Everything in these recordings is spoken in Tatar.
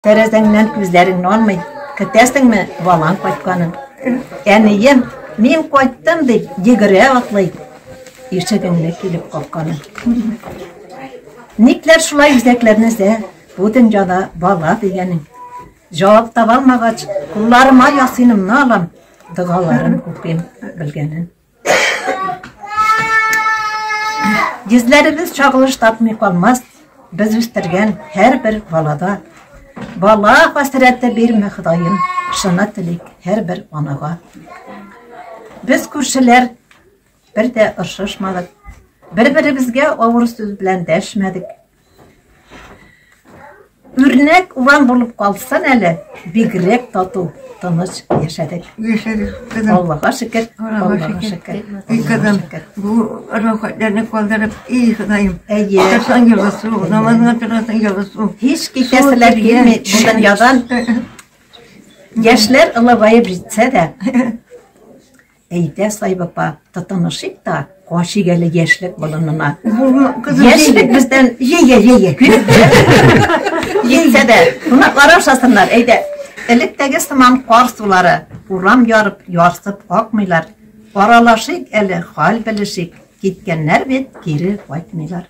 Тәрәзәңнән күзләрең нанмый, көтәсеңме балаң кайтканын. Әнием, мин кайттым дип, йөгерә атлый, ишегеңне килеп капканы. Никләр шулай үзәкләрне зә, бу дөньяда бала дигәнең. Җавап таба алмагач, кулларыма ясыйнымны алам, догаларын укыйм белгәнен. Йөзләребез чагылыш тапмый калмас, без үстергән һәрбер балада. Бала хәсрәте бирме Ходаем, шуны телик һәрбер анага. Без күршеләр бер дә ошышмадык, бер-беребезгә авыр сүз белән дәшмәдек. Үрнәк урам булып калсын әле. Бигрәк тату, тыныч яшәдек. Яшәдек, кызым. Аллага шөкер, Аллага шөкер. И кызым, бу рәхәтләрне калдырып, и Ходаем. Әйе. Кырсан ялгысу, намазга торасың ялгысу. Һич китәселәр килми, шуннан ядан. Яшьләр олыгаеп җитсә дә, Әйдә, Саип апа, тотынышыйк та, качыйк әле яшьлек болынына. Яшьлек бездән җәйә, җәйә. Җитсә дә, кунаклар ашасыннар, әйдә. Электәге сыман кар сулары, урам ярып, ярсып акмыйлар. Аралашыйк әле, хәл белешик. Киткәннәр бит, кире кайтмыйлар.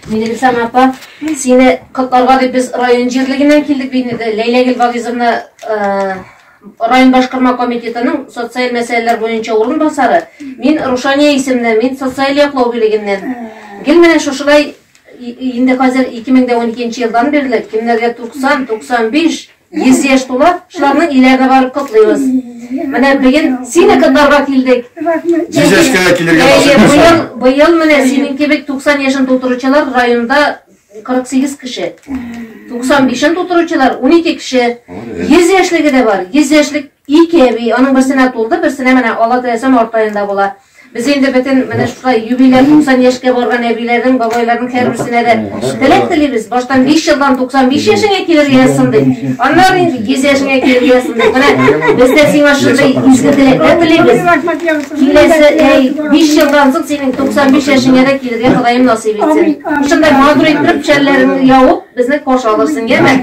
Минелексам апа, сине котларга дип без район җирлегеннән килдек бит инде. Ләйләгөл Вагизовна Район башкарма комитетының социаль мәсьәләләр буенча урынбасары, мин Рушания исемле, мин социаль яклау бүлегеннән. Гел менә шушылай инде хәзер 2012 елдан бирле кемнәргә 90, 95, 100 яшь тула, шуларның иләренә барып котлыйбыз. Менә бүген сине котларга килдек. Җизәшкә килергә насыйп булсын. Быел, быел менә синең кебек 90 яшен тутыручылар районда 48 кеше. 95-ен тутыручылар 12 кеше. 100 яшьлеге дә бар. 100 яшьлек ике әби, аның берсенә тулды, берсенә менә ала теләсәм артаенда була. Без инде бөтен менә шулай юбилей 90 яшькә барган әбиләрнең, бабайларның һәрберсенә дә теләк телибез. Баштан 5 елдан 95 яшеңә килергә язсын ди. Аннары инде 100 яшеңә килергә язсын ди. Менә без дә сиңа шундый изге теләкләр телибез. Киләсе әй, 5 елдан соң синең 95 яшеңә дә килергә Ходаем насыйп итсен. Шунда магруй итеп шәлләреңне явып, безне каршы алырсың, яме?